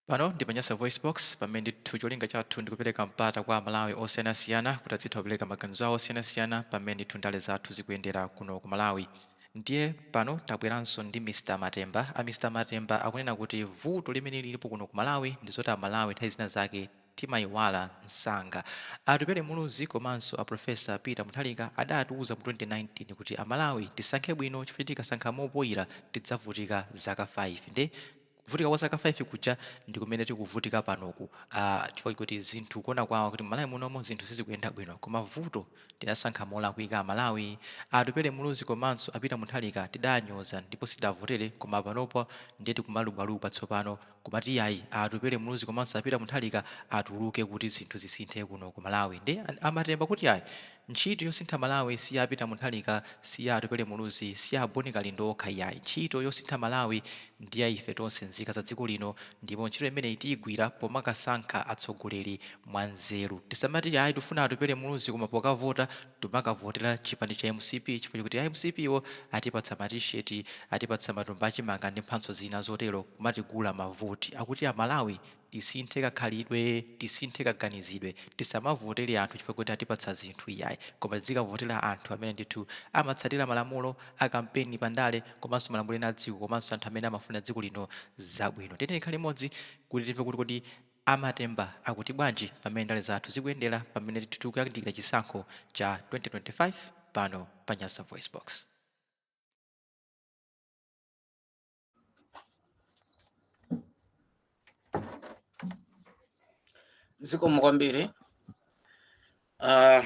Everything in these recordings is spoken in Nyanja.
Pano ndi pa Nyasa VoiceBox, pamene ndithu cholinga chathu ndi kupereka mpata kwa Amalawi osiyanasiyana kuti adzitha kupereka maganizo awo osiyanasiyana pa mmene ndithu ndale zathu zikuyendera kuno ku Malawi. Ndiye pano tabweranso ndi Mr Matemba. A Mr Matemba akunena kuti vuto limene lilipo kuno ku Malawi ndi zoti Amalawi nthawi zina zake timaiwala msanga. A Atupele Muluzi komanso a Professor Peter Mutharika adatiuza mu 2019 kuti Amalawi tisankhe bwino chifukwa choti tikasankha mopoira tidzavutika zaka 5. Ndiye. kuvutika kwa zaka 5 kuja ndikumene tikuvutika panoku aah chifukwa chakuti zinthu kuona kwawo kuti m'malawi munomo zinthu sizikuyenda bwino koma vuto tidasankha molakwika amalawi, atupele muluzi komanso apeter munthalika tidanyoza ndipo sitidawavotere koma panopa ndiye tikumalubwalubwa tsopano kumati iyayi atupele muluzi komanso apeter munthalika atuluke kuti zinthu zisinthe kuno kumalawi nde amatemba akuti ayi Ntchito yosintha Malawi si ya a Peter Mutharika, si ya Atupele Muluzi, si ya a Boni Kalindo okha iyayi. Ntchito yosintha Malawi ndi ya ife tonse nzika za dziko lino ndipo ntchito imeneyi tiyigwira pomakasankha atsogoleri mwa nzeru. Tisamati ayi tifuna Atupele Muluzi koma pokavota tikumakavotera chipani cha mcp chifukwa chakuti a mcp wo atipatsa ma T-shirt, atipatsa matumba a chimanga ndi mphatso zina zotero kumatigula mavoti akuti a Malawi Tisinthe kakhalidwe, tisinthe kaganizidwe. Tisamavotele anthu chifukwa choti atipatsa zinthu iyayi. Koma tidzikavotela anthu amene ndithu amatsatila malamulo a kampeni pa ndale komanso malamulo ena a dziko komanso anthu amene amafuna dziko lino zabwino. Tiyeni tikhale limodzi kuti timve kuti kodi a Matemba akuti bwanji pa mmene ndale zathu zikuyendela pamene ndithu tikuyandikila chisankho cha 2025 pano pa Nyasa VoiceBox. zikomo kwambiri uh,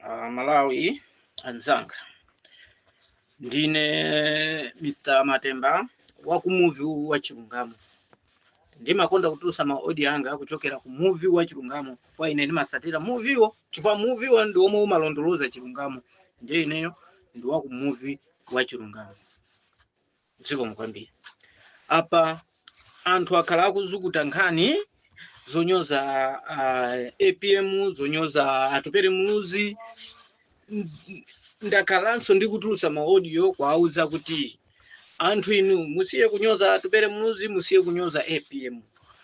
amalawi anzanga ndine mr matemba wa ku muvi wa chilungamo ndimakonda kutulusa maaudio anga kuchokera ku muvi wa chilungamo chifukwa ine ndimasatira muviwo chifukwa muviwo ndi omwe umalondoloza chilungamo ndiye ineyo ndi wa ku muvi wa chilungamo zikomo kwambiri apa anthu akhala akuzukuta nkhani zonyoza uh, apm zonyoza atupere muluzi N- ndakhalanso ndikutulutsa maaudio kuwauza kuti anthu inu musiye kunyoza atupere muluzi musiye kunyoza apm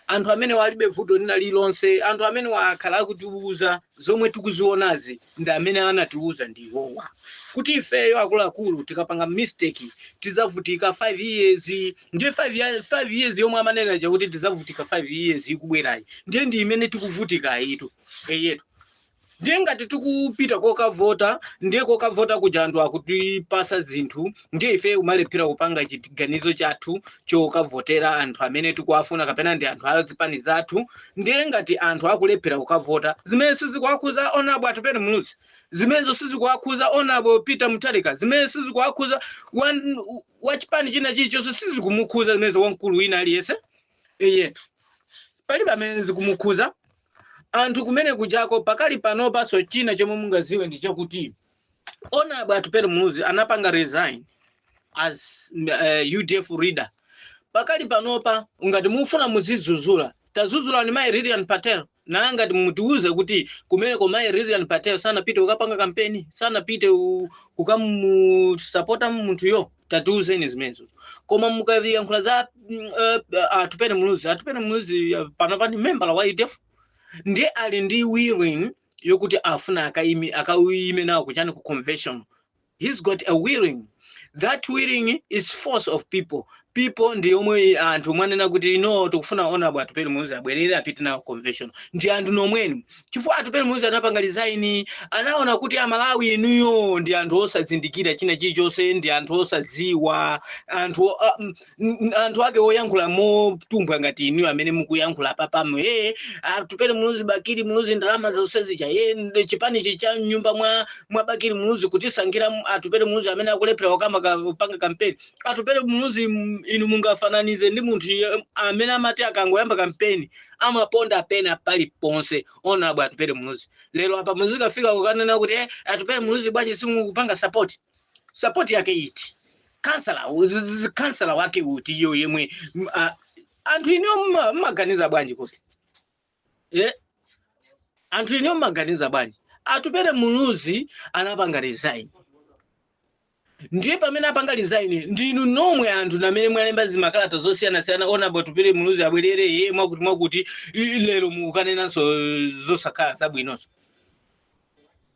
anthu amenewa alibe vuto lina lilonse anthu amenewa akhala akutiuza zomwe tikuzionazi ndi amene anatiuza ndi iwowa kuti ifeyo akuluakulu tikapanga mistake tizavutika 5 years ndiye 5 ya- 5 years yomwe amanena ija kuti tizavutika 5 years ikubwerayi ndiye ndi imene tikuvutikayitu eyetu ndiye ngati tikupita kokavota ndiye kokavota kuja anthu akutipasa zinthu ndiye ife umalephera kupanga chiganizo chathu chokavotera anthu amene tikuwafuna kapena ndi anthu a zipani zathu ndiye ngati anthu akulephera kukavota zimene sizikuwakhuza honourable atupele muluzi zimenezo sizikuwakhuza honourable peter mutharika zimene sizikuwakhuza wan- wa chipani china chilichonse sizikumukhuza zimenezo wamkulu wina aliyense eyetu palibe amene zikumukhuza anthu kumene kujako pakali panopanso china chomwe mungaziwe ndi chakuti honourable atupele muluzi anapanga resign as uh, udf leader pakali panopa ngati mufuna muzizuzula tazuzulani mayi lilian patel naye ngati mutiuze kuti kumeneko mayi lilian patel sanapite kukapanga kampeni sanapite u- kukamusapota munthuyo tatiuzeni zimenezo koma mukayankhula za mm, eh, atupele muluzi atupele muluzi eh, panopa ndi membala wa udf ndiye ali ndi willing yokuti afuna akaime akaime nawo kuchani ku convention he's got a willing that willing is force of people people ndi omwe anthu mwanena kuti no tikufuna honourable atupele muluzi abwerere apite nawo ku convention ndi anthu nomwenu chifukwa atupele muluzi anapanga resign anaona kuti amalawi inuyo ndi anthu osazindikira china chilichonse ndi anthu osadziwa anthu o- a- m- n- anthu ake oyankhula motumbwa ngati inuyo amene mukuyankhula papamo e atupele muluzi bakili muluzi ndalama zonse zija e nd- chipanichi cha mnyumba mwa mwa bakili muluzi kutisankhira m- atupele muluzi amene akulephera wakama ka- kupanga kampeni atupele muluzi m- inu mungafananize ndi munthu ye- amene amati akangoyamba kampeni amaponda pena paliponse honourable atupele muluzi lero apa muzikafika kukanena kuti eh, atupele muluzi bwanji simukupanga sapoti sapoti yake iti kansala u- z- z- kansala wake uti iyo yemwe m- a- anthu inuyo mma- mmaganiza bwanji kuti eh? anthu inuyo mmaganiza bwanji atupele muluzi anapanga resign ndiye pamene apanga resign ndinu nomwe anthu namene mwalemba zimakalata zosiyanasiyana honourable atupele muluzi abwerere iye mwakuti mwakuti i- lero mukukanenanso zosakhala zabwinonso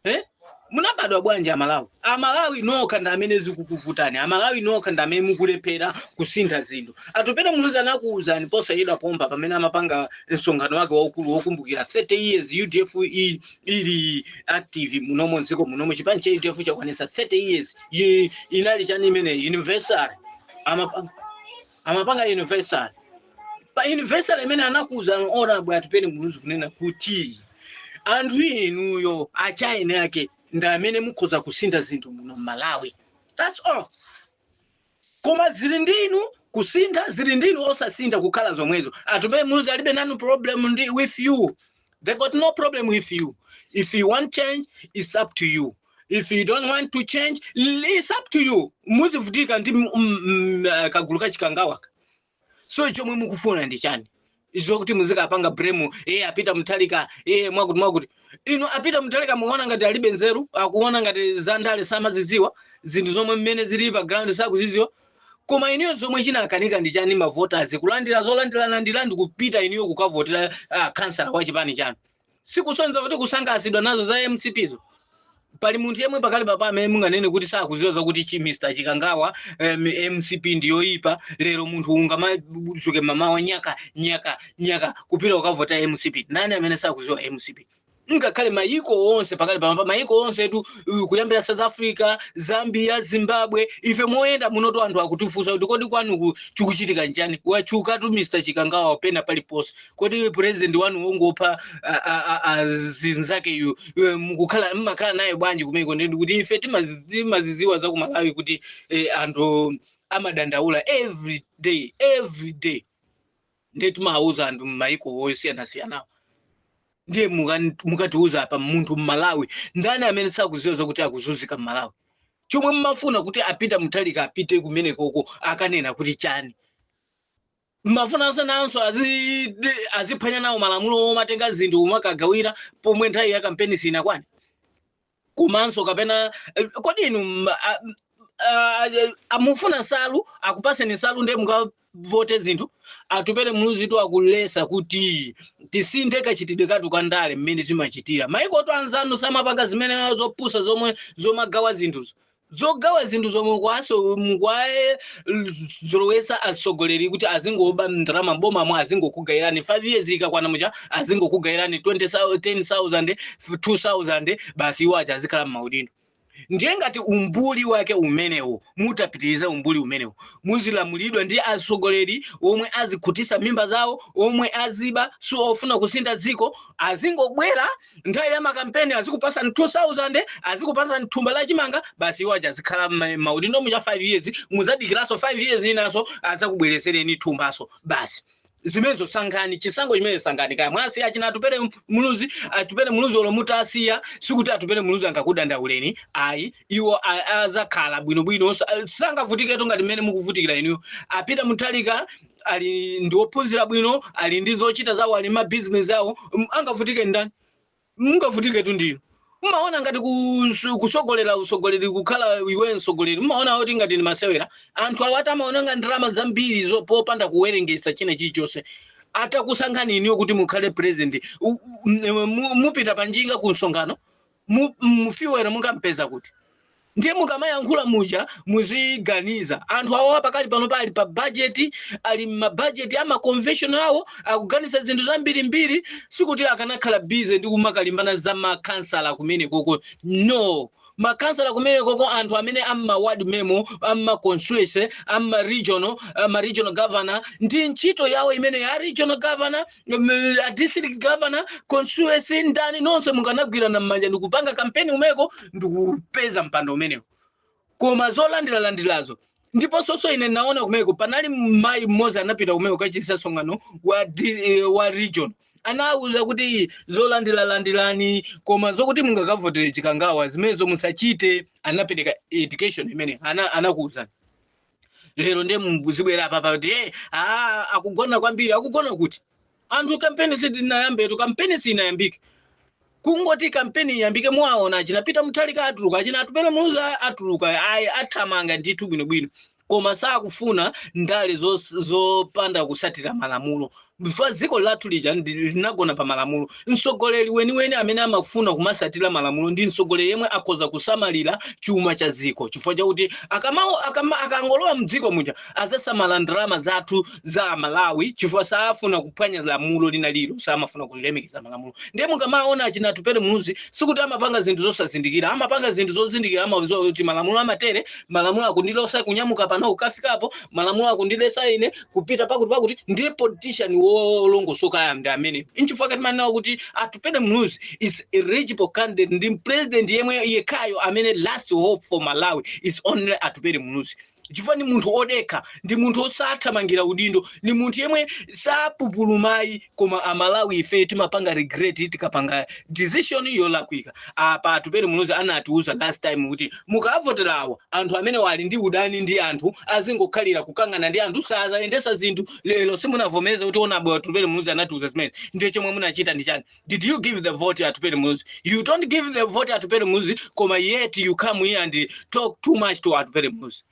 eh? munabadwa bwanji amalawi amalawi nokha ndi amene zikukuvutani amalawi nokha ndi amene mukulephera kusintha zinthu atupele muluzi anakuwuzani posachedwa pompa pamene amapanga msonkhano wake waukulu wokumbukira 30 years udf i- ili active munomo mdziko munomo chipani cha udf chakwanisa 30 years Yi- inali chani imeneyi anniversary amapanga amapanga anniversary pa anniversary imene anakuwuza honourable atupele muluzi kunena kuti anthu inuyo achaine ake ndi amene mukhoza kusintha zinthu muno mmalawi that's all koma zili ndi inu kusintha zili ndi inu osasintha kukhala zomwezo atupele muluzi alibe nanu problem with you they got no problem with you if you want change it's up to you if you don't want to change l- it's up to you muzivutika ndi m- m- m- eh, kagulu kachikangawa so chomwe mukufuna ndi chani izo kuti muzikapanga blame iye apita mutharika iye mwakuti mwakuti inu apita mutharika mukuona ngati alibe nzeru akuona ngati za ndale samazidziwa zinthu zomwe mmene zili pa ground sakuzidziwa koma iniyo zomwe chikukanika ndi chani mavoters kulandira zolandiralandira ndi kupita iniyo kukavotera ah, kansala wa chipani chanu sikusonyeza kuti kusangalatsidwa nazo za mcp zo pali munthu yemwe pakali papa amene anganene kuti sakuziwa zakuti chi mr chikangawa em, mcp ndiyoyipa lero munthu ungamadzuke mmamawa nyaka nyaka nyaka kupita kukavota mcp ndani amene sakuziwa mcp ngakhale mayiko onse pakali pamapa mayiko onse tu uh, kuyambira south africa zambia zimbabwe ife moyenda munotu anthu akutifunsa kuti kodi kwanuku chikuchitika nchani watchukatu mr chikangawa pena paliponse kodi iwe president wanu wangopha a- a- a- a- zinzakeyu iwe mukukhala mmakhala naye bwanji kumeko ndi kuti ife timazi- timaziziwa za ku malawi kuti eh, anthu amadandaula every day every day ndiye timawuza anthu mmaiko osiyanasiyanawo ndiye mukan- mukatiwuza apa munthu mmalawi ndani amene sakuziwa zakuti akuzunzika mmalawi chomwe mmafuna kuti apita mutharika apite kumenekoko akanene kuti chani mumafunanso nanso azi- de- aziphwanya nawo malamulo omatenga zinthu kumakagawira pomwe nthawi ya kampeni sinakwane komanso kapena eh, kodi inu mm, a- a- a- amufuna nsalu akupaseni nsalu ndiye mukavote zinthu atupele muluzitu akuletsa kuti tisinthe kachitidwe kathu ka ndale mmene zimachitira maikotu anzanu samapanga zimene zopusa zomwe zomagawa zinthuzo zogawa zinthu zomwe kwaso- mukwaye l- zolowesa atsogoleri kuti azingoba ndalama m'bomamo azingokugayirani 5 years ikakwana muja azingokugayirani 20,000, 10,000 2,000 basi iwo aja azikhala m'maudindo ndiye ngati umbuli wake umenewo mutapitiriza umbuli umenewo muzilamulidwa ndi atsogoleri omwe azikhutitsa mimba zawo omwe aziba si ofuna kusintha dziko azingobwera nthawi ya makampeni azikupasani 2000 azikupasani thumba la chimanga basi iwo aja azikhala mma- maudindo muja 5 years muzadikiranso 5 years inanso azakubweresereni thumbanso basi zimenezo sankhani chisango chimene sankhani kaya mwasiya achina atupele muluzi atupele muluzi olo mutawasiya sikuti atupele muluzi angakudandauleni ayi iwo a- azakhala bwinobwino sa- sangavutiketu ngati mmene mukuvutikira inuyo apita mutharika ali ndi ophunzira bwino ali ndi zochita zawo ali mmabizinesi awo m- angavutike ndani mungavutiketu ndiye mmaona ngati kus- kusogolera usogoleri kukhala iwe msogoleri mmaona kuti ngati ndi masewera anthu awatu amaononga ndalama zambiri zo- popanda kuwerengesa china chilichonse atakusankhani inuyo kuti mukhale president u- u- m- mu- mupita panjinga ku msonkhano mu, mu fuel mungampeza kuti ndiye mukamayankhula muja muziganiza anthu awawa pakali panopa ali pa bajeti ali mmabajeti ama convention awo akuganiza zinthu zambirimbiri sikuti akanakhala bize ndi kumakalimbana za makansala kumenekoko no makansala kumenekoko anthu amene amma ward memo amma constituency amma region ma regional governor ndi ntchito yawo imene ya regional governor um, a district governor constituency ndani nonse mukanagwirana mmanja ndikupanga kampeni kumeko ndikupeza mpando umenewo koma zolandiralandirazo ndiponsoso ine naona kumeko panali mayi mmodzi anapita kumeko kachitisa msonkhano wa, di- eh, wa region anawuza kuti zolandira landirani koma zokuti mungakavotere chikangawa zimenezo musachite anapereka education imene ana- anakuwuzani lero ndiye muzibwera apapa kuti hey, ah, akugona kwambiri akugona kuti anthu kampeni siinayambetu kampeni sinayambike kungoti kampeni iyambike muwaona achina pita mutharika atuluka achina atupele muluzi atuluka ayi athamanga ndithu bwinobwino koma sakufuna ndale zos- zopanda kusatira malamulo chifukwa dziko lathu lija ndi- linagona pa malamulo mtsogoleri weniweni amene amafuna kumasatira malamulo ndi mtsogoleri yemwe akhoza kusamalira chuma cha dziko chifukwa chakuti akamawo akama, akangolowa mdziko muja azasamala ndalama zathu za malawi chifukwa saafuna kuphwanya lamulo lina lililonse amafuna kulemekeza malamulo ndiye mukamaona achina atupele muluzi sikuti amapanga zinthu zosazindikira amapanga zinthu zozindikira amaziwa kuti malamulo amatere malamulo akundilesa kunyamuka pano kukafika apo malamulo akundilesa ine kupita pakuti pakuti ndiye politician wolongosokayo ndi amene nchifukwa chake timanena kuti atupele muluzi is eligible candidate ndi president yemwe yekhayo amene last hope for malawi is only atupele muluzi chifukwa ni munthu odekha ndi munthu osathamangira udindo ni munthu yemwe sapupulumayi koma amalawi ife timapanga regret tikapanga decision yolakwika apa atupele muluzi anatiuza last time kuti mukavotera awa anthu amenewa ali ndi udani ndi anthu azingokhalira kukangana ndi anthu sazayendesa zinthu lero simunavomereze kuti honourable atupele muluzi anatiuza zimene ndiye chomwe munachita ndi chani did you give the vote atupele muluzi you don't give the vote atupele muluzi koma yet you come here and talk too much to atupele muluzi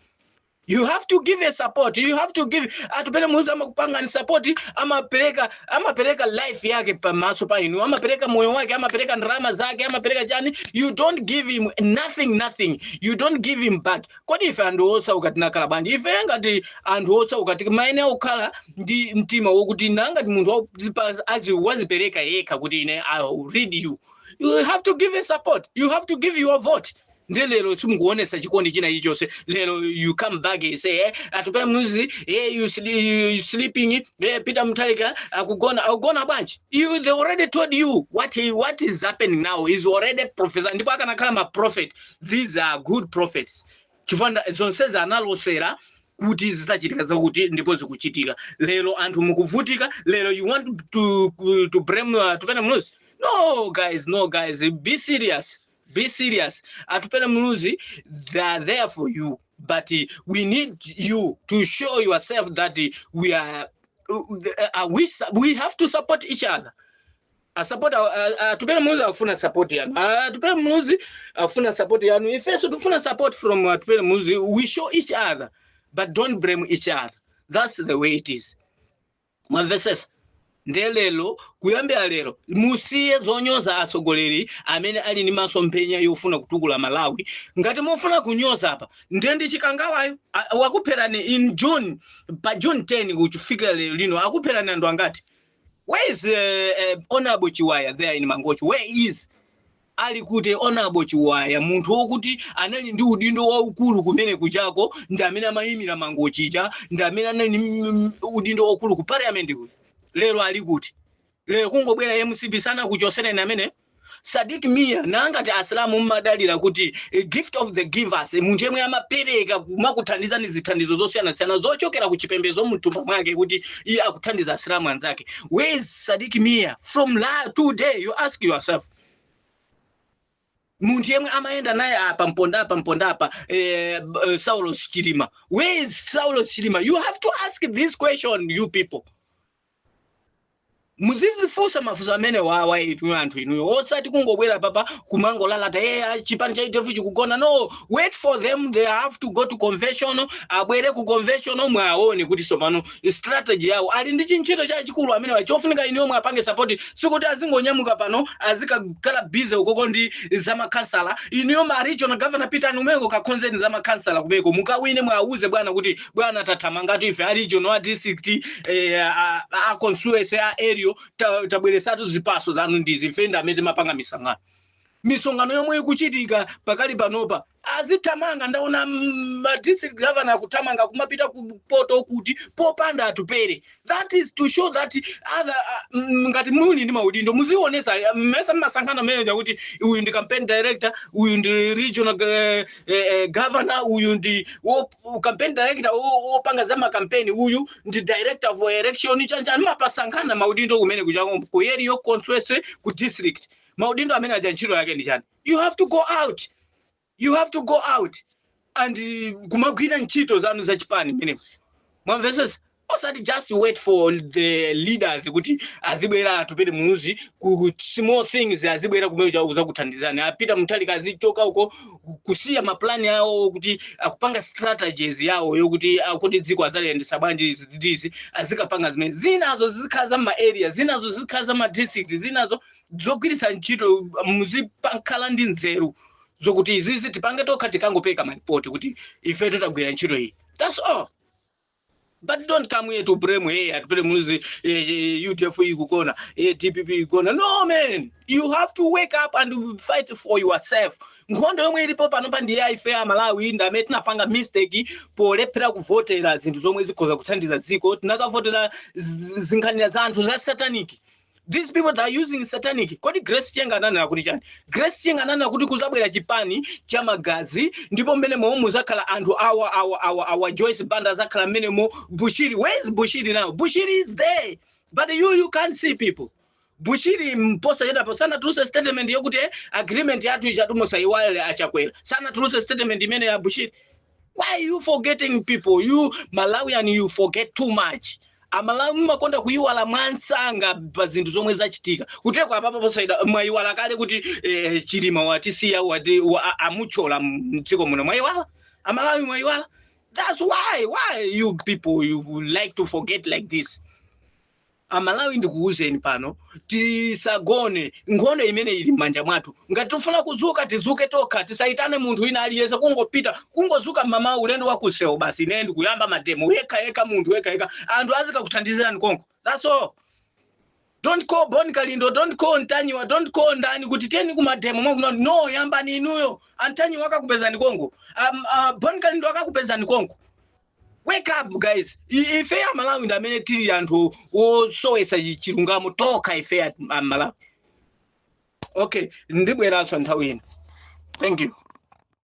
you have to give a support you have to give atupele muzi amakupanga ni support amapereka amapereka life yake pamaso pa inu amapereka moyo wake amapereka ndarama zake amapereka chani you don't give him nothing nothing you don't give him back kodi ife anthu osauka tinakhala bwanji ife ngati anthu osauka timaene akukhala ndi mtima wokuti nangati munthu wakuzipa- azi- wazipereka yekha kuti ine i will lead you you have to give a support you have to give your vote ndi lero simukuonesa chikondi china ichonse lero you come back and say eh, atupele muluzi eh, you, sli- you, you sleeping eh, peter mutharika akugona akugona bwanji you they already told you what he, what is happening now is already prophesied ndipo akanakhala ma prophet these are good prophets chifukwa nda- zonsezi analosera kuti zitachitika zakuti ndipo zikuchitika lero anthu mukuvutika lero you want to, to, to blame uh, atupele muluzi no guys no guys be serious be serious atupele muluzi they are there for you but uh, we need you to show yourself that uh, we are uh, uh, we, su- we have to support each other asupport atupele muluzi afuna support yanu atupele muluzi afuna support yanu ifeso tufuna support from atupele muluzi we show each other but don't blame each other that's the way it is mwamvesesa nde lero kuyambira lero musiye zonyoza atsogoleri amene ali ndi masomphenya yofuna kutukula malawi ngati mufuna kunyoza apa nde ndi chikangawayo a- wakupherani in june pa june 10 kufika lero lino akupherani anthu angati where is uh, uh, honorable chiwaya there in mangochi where is Ali kuti Honorable Chiwaya, munthu wokuti anali ndi udindo waukulu kumene kujako, ndi amene amayimira Mangochija, ndi amene anali ndi mm, mm, udindo waukulu ku parliament kuja. Lero ali kuti? Lero kungobwera MCP sanakuchosereni amene Sadik Mia nangati Asilamu mmadalira kuti a gift of the givers munthu yemwe amapereka kumakuthandizani zithandizo zosiyanasiyana zochokera ku chipembedzo mtumba mwake kuti iye akuthandiza Asilamu anzake. Where is Sadik Mia from today you ask yourself. munthu yemwe amayenda naye apa mpondapa mpondapa eh, b- eh, saulos chilima where is saulos chilima you have to ask this question you people muzizifunsa mafunso amenewawa inu anthu inuyo osati kungobwera apapa kumangolalata e chipani cha udf chikugona no wait for them they have to go to convention abwere ku convention mwaone kuti sopano strategy yawo ali ndi chintchito chachikulu amenewa chofunika inuyo muwapange sapoti sikuti azingonyamuka pano azikakhala busy ukoko ndi zamakhansala inuyo ma regional governor pitani kumeko kakhonzeni zamakhansala kumeko mukawine muwauze bwana kuti bwana tathamangatu ife a regional a district eh, a, a- a constituency a area ta- tabweresatu zipatso zanu ndizi ife ndi amene timapanga misangano misonkhano yomwe ikuchitika pakali panopa azithamanga ndaona mm, ma district governor akuthamanga kumapita ku poto kuti popanda atupele that is to show that other uh, mm, ngati muli ndi maudindo muzionesa uh, mmesa mmasankhana mmene kuti uyu ndi campaign director uyu ndi regional eh, eh, governor uyu ndi wo- wo- campaign director wo- wopanga za makampeni uyu ndi director for election chanichani mapasankhana maudindo kumene kuja ku area constituency ku district maudindo amene aja ntchito yake ndi chani you have to go out you have to go out and uh, kumagwira ntchito zanu za chipani mene mwamvesesa osati just wait for the leaders kuti azibwera atupele muluzi ku small things azibwera kumene cha- kuzakuthandizani apeter mutharika azichoka uko ku- kusiya mapulani awo kuti akupanga strategies yawo yokuti akuti dziko azaliyendesa bwanji izi ndi izi azikapanga zimene zinazo zizikhala za ma area zinazo zizikhala za ma district zinazo zogwiritsa ntchito muzipakhala ndi nzeru zokuti izizi tipange tokha tikangopereka malipoti kuti ife titagwira ntchito iyi that's all but don't come here to blame hey atupele muluzi eh, eh, udf ikugona eh, dpp ikugona no man you have to wake up and fight for yourself nkhondo yomwe ilipo panopa ndi ya ife a malawi ndi amene tinapanga mistake polephera kuvotera zinthu zomwe zikhoza kuthandiza dziko tinakavotera z- zinkhanira za anthu za satanic these people that are using satanic kodi grace chinga ananena kuti chani grace chinga ananena kuti kuzabwera chipani cha magazi ndipo mmenemo muzakhala anthu awa awa awa awa joyce banda azakhala mmenemo bushiri where is bushiri now bushiri is there but you you can't see people bushiri posachedwapa sanatuluse statement yokuti eh, agreement yathu ijatu musaiwale achakwera sanatuluse statement imeneyi a bushiri why are you forgetting people you malawian you forget too much amalawi mumakonda kuyiwala mwamsanga pa zinthu zomwe zachitika kuteko apapa posachedwa mwayiwala kale kuti eh, chilima watisiya wati wa- a- amutchola mdziko muno mwayiwala amalawi mwayiwala that's why why you people you like to forget like this amalawi ndikuwuzeni pano tisagone nkhondo imene ili m'manja mwathu ngati tifuna kuzuka tizuke tokha tisayitane munthu wina aliyense kungopita kungozuka mmamawa ulendo wa kusewu basi ine ndikuyamba mademo yekha yekha munthu yekha yekha anthu azikakuthandizirani konko that's all don't call bon kalindo don't call ntanyiwa don't call ndani kuti tiyeni kumademo mwakuno no yambani inuyo antanyiwa akakupezani konko um, uh, bon kalindo akakupezani konko wake up guys I- ifeyo amalawi ndi amene tili anthu osowesa chi- chilungamo tokha ifeyo amalawi okay ndibweranso nthawi ina thank you